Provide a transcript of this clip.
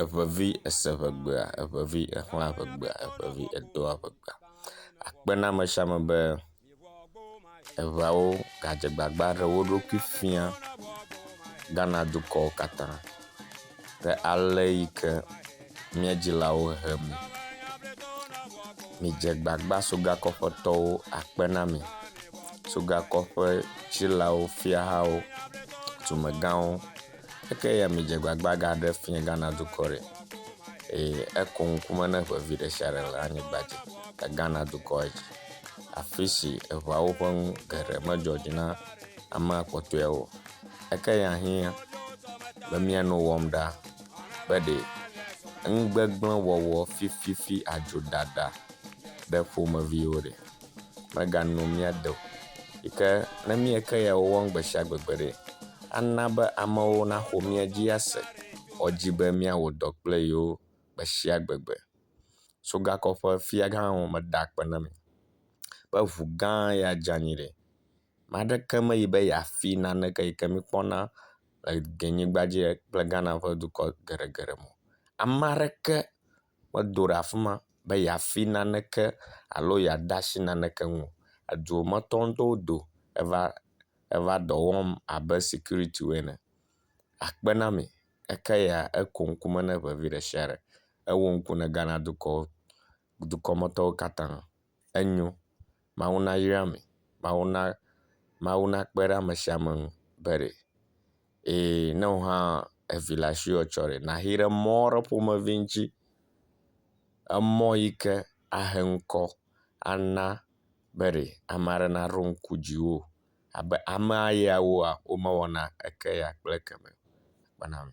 Eŋevi ese ŋegbea, eŋevi exlã ŋegbea, eŋevi edoa ŋegbea. Akpe ɖe ame sia ame be eŋeawo gadze agbagba ɖe wo ɖokui fia Ghana dukɔ katã kple ale yi ke mía dzilawo he mi. Midze agbagba sogakɔƒetɔwo akpe na mi. Sogakɔƒe dzilawo, fiahawo, dumegãwo. Eke ya midze gbagba gaɖe fiẽ Ghana dukɔ ɖe eye eko ŋku me ne ŋe vi ɖe sia ɖe le anyigba dzi le Ghana dukɔ dzi, afi si eŋeawo ƒe nu geɖe medzɔ dzi na amea kpɔtɔewo. Eke ya hiã be mía nu wɔm ɖa be ɖe nugbegblẽ wɔwɔ fififi adzo ɖaɖa ɖe ƒomeviwo ɖe. megano mía de o yi ke ne míeke ya wɔm gbe sia gbe gbeɖe, ana be amewo naxɔ mía dzi ase woawo dzi be míawɔ dɔ kple yewo gbe sia gbe gbe. Sogakɔ ƒe fiagã hã meda akpe na mí be ŋu gã ya dze anyi ɖɛ. Ame aɖeke meyi be yeafi naneke yi ke míkpɔna le Ghanigbadzi kple Ghana ƒe dukɔ geɖegeɖe me o. Ame aɖeke. medo ɖe afi ma be yeafi naneke alo yeade asi naneke ŋu o. Eduwometɔ aɖewo do eva eva dɔ wɔm abe sikuritiwo ene. Akpe na mi eke ya eko ŋku me na ŋe vi ɖe sia ɖe. Ewo ŋku na Ghana dukɔ dukɔmetɔwo katã. enyo. Mawu nayra mi. Mawu na, Mawu nakpe ɖe ame sia ame ŋu be ɖe eye ne wò hã evi le asiwò etsɔ ɖe nayi ɖe emɔ ɖe ƒomevi ŋuti. Emɔ yi ke ahe ŋkɔ ana be ɖe ame aɖe naɖo ŋku dziwò abe amea yawoa womewɔna eke ya kple ekema o. Kpɔna nu.